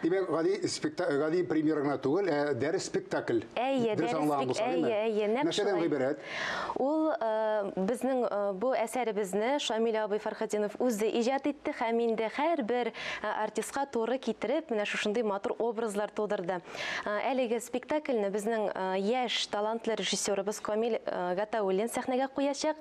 Димәк, гади спектакль, гади премьера гына түгел, ә дәрес спектакль. Әйе, дөрес аңлаган булсам, әйе, әйе, нәкъ Нәрсәдән гыйбарәт? Ул э, безнең э, бу әсәребезне Шамил абый Фархатинов үзе иҗат итте һәм инде һәрбер э, артистка туры китереп, менә шушындый матур образлар тудырды. Әлеге спектакльне безнең яшь талантлы режиссерыбыз Камил Гатауллин сәхнәгә куячак.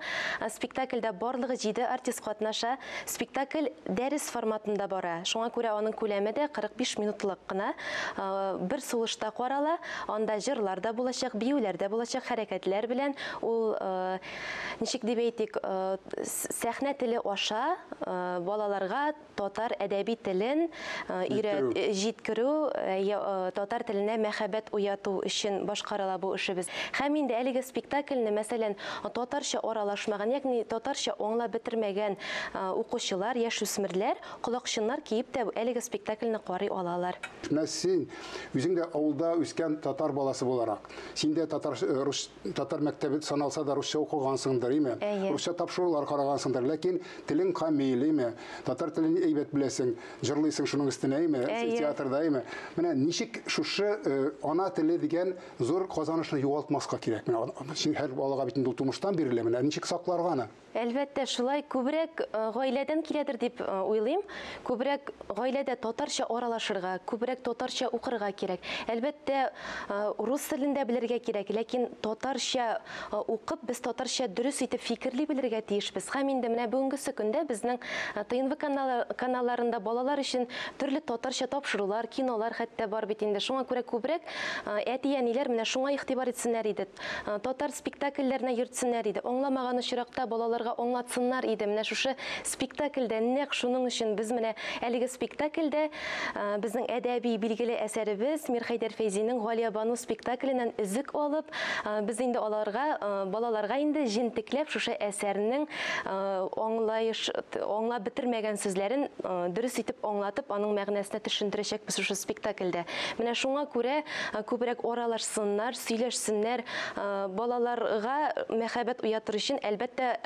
Спектакльдә барлыгы 7 артист катнаша. Спектакль дәрес форматында бара, шуңа күрә аның күләме дә 45 минутлык кына, бер сулышта карала. Анда җырлар да булачак, биюләр дә булачак, хәрәкәтләр белән ул, ничек дип әйтик, сәхнә теле аша балаларга татар әдәби телен Өйрәтү. Җиткерү, татар теленә мәхәббәт уяту өчен башкарыла бу эшебез. Һәм инде әлеге спектакльне, мәсәлән, татарча аралашмаган, ягъни татарча аңлап бетермәгән укучылар, яшүсмерләр колакчыннар киеп тә әлеге спектакльне карый алалар. Менә син, үзең дә авылда үскән татар баласы буларак, син дә татар, рус, татар мәктәбе саналса да русча укыгансыңдыр, име? Әйе. Русча тапшырулар карагансыңдыр, ләкин телең камил, име? Татар телен әйбәт беләсең, җырлыйсың шуның өстенә, әйме? Театрда, әйме? Менә ничек шушы э, ана теле дигән зур казанышны югалтмаска кирәк? Менә һәр балага бит инде тумыштан бирелә, менә ничек сакларга аны? Әлбәттә, шулай күбрәк э, гаиләдән киләдер дип э, уйлыйм. Күбрәк гаиләдә татарча аралашырга, күбрәк татарча укырга кирәк. Әлбәттә, рус телендә белергә кирәк, ләкин татарча укып, без татарча дөрес итеп фикерли белергә тиешбез. Һәм инде менә бүгенгесе көндә безнең ТНВ каналларында балалар өчен төрле татарча тапшырулар, кинолар хәтта бар бит инде. Шуңа күрә күбрәк әти-әниләр менә шуңа игътибар итсеннәр иде. Татар спектакльләренә йөртсеннәр иде. Аңламаган очракта балаларга аңлатсыннар иде. Менә шушы Спектакльдә нәкъ шуның өчен без менә әлеге спектакльдә безнең әдәби билгеле әсәребез Мирхәйдәр Фәйзинең Галиябану спектакленнән өзек алып, без инде аларга, балаларга инде җентекләп шушы әсәрнең аңлаеш, аңлап бетермәгән сүзләрен дөрес итеп аңлатып, аның мәгънәсенә төшендерәчәкбез шушы спектакльдә. Менә шуңа күрә күбрәк аралашсыннар, сөйләшсеннәр, балаларга мәхәббәт уятыр өчен, әлбәттә,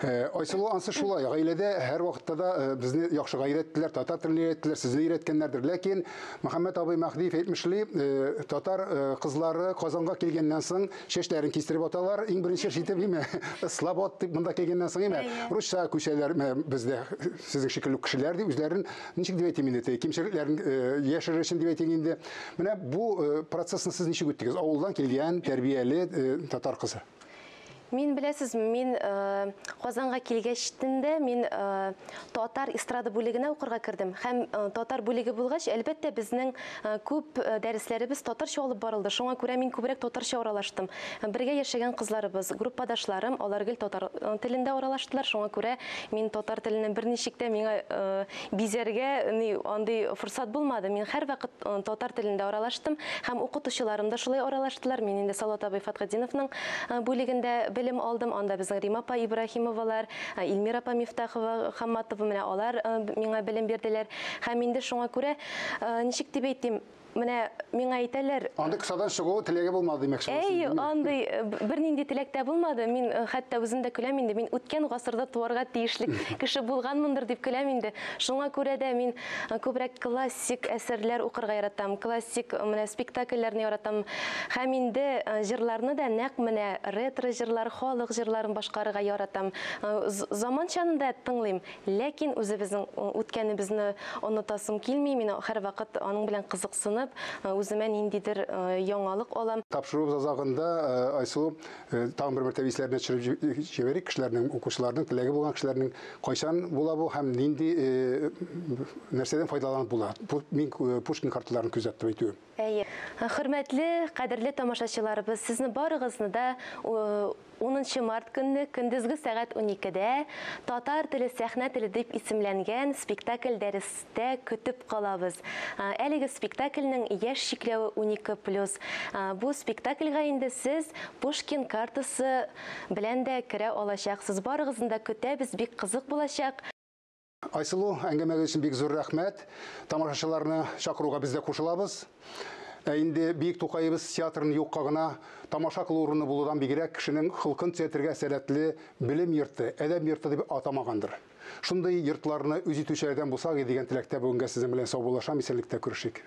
Э, Айсылу ансы шулай, гаиләдә һәр вакытта да э, безне яхшы гайрәттеләр, татар телен өйрәттеләр, сезне өйрәткәннәрдер. Ләкин Мөхәммәт абый Мәһдиев әйтмешли, э, татар кызлары Казанга килгәннән соң чәчләрен кистереп аталар, иң беренче шитеп име, слабот дип монда килгәннән соң име, русча күчәләр бездә сезнең шикелле кешеләр дип үзләрен ничек дип әйтим инде, кимчелекләрен яшерер өчен дип әйтим инде. Менә бу процессны сез ничек үттегез? Авылдан килгән тәрбияле татар кызы. Мин беләсез, мин э, Казанга килгәчтен дә мин э, татар эстрада бүлегенә укырга кердем. Һәм э, татар бүлеге булгач, әлбәттә, безнең э, күп э, дәресләребез татарча алып барылды. Шуңа күрә мин күбрәк татарча аралаштым. Бергә яшәгән кызларыбыз, группадашларым, алар гел татар э, телендә аралаштылар. Шуңа күрә мин татар теленнән берничек тә миңа э, Бизәргә ни андый форсат булмады. Мин һәрвакыт татар телендә аралаштым һәм укытучыларым да шулай аралаштылар. Мин инде Салават абый Фатхетдиновның бүлегендә белем алдым. Анда безнең Рима апа Ибраһимовалар, Илмира апа Мифтахова, Хамматова менә алар миңа белем бирделәр. Һәм инде шуңа күрә ничек дип әйтим, Менә миңа әйтәләр. Андый кысадан чыгу теләге булмады димәк шул. Әй, андый э, бернинди теләк тә булмады. Мин э, хәтта үзем дә көләм инде. Мин үткән гасырда туарга тиешле кеше булганмындыр дип көләм инде. Шуңа күрә дә мин э, күбрәк классик әсәрләр укырга яратам. Классик менә спектакльләрне яратам. Һәм инде җырларны да нәкъ менә ретро җырлар, халык җырларын башкарырга яратам. Заманчаны да тыңлыйм. Ләкин үзебезнең үткәнебезне онытасым килми, мин һәрвакыт аның белән кызыксынып, үземә ниндидер яңалык алам. Тапшыруыбыз азагында, Айсылу, тагын бер мәртәбә исләренә төшереп җибәрик кешеләрнең, укучыларның, теләге булган кешеләрнең, кайчан була бу һәм нинди, нәрсәдән файдаланып була? Бу мин Пушкин карталарын күзәтеп әйтүем. Әйе. Хөрмәтле, кадерле тамашачыларыбыз, сезне барыгызны да унынчы март көнне көндезге сәгать уникедә Татар теле, сәхнә теле дип исемләнгән спектакль дәрестә көтеп калабыз. Әлеге спектакльнең яшь чикләве унике плюс. Бу спектакльга инде сез Пушкин картасы белән дә керә алачаксыз. Барыгызны да көтәбез, бик кызык булачак. Айсылу, әңгәмәгез өчен бик зур рәхмәт. Тамашачыларны чакыруга без дә кушылабыз. Ә инде Биек Тукаебыз театрын юкка гына тамаша кылу урыны булудан бигрәк кешенең холкын төзәтергә сәләтле белем йорты, әдәп йорты дип атамагандыр. Шундый йортларны үз итүчеләрдән булсак и дигән теләктә бүгенгә сезнең белән саубуллашам, исәнлектә күрешик.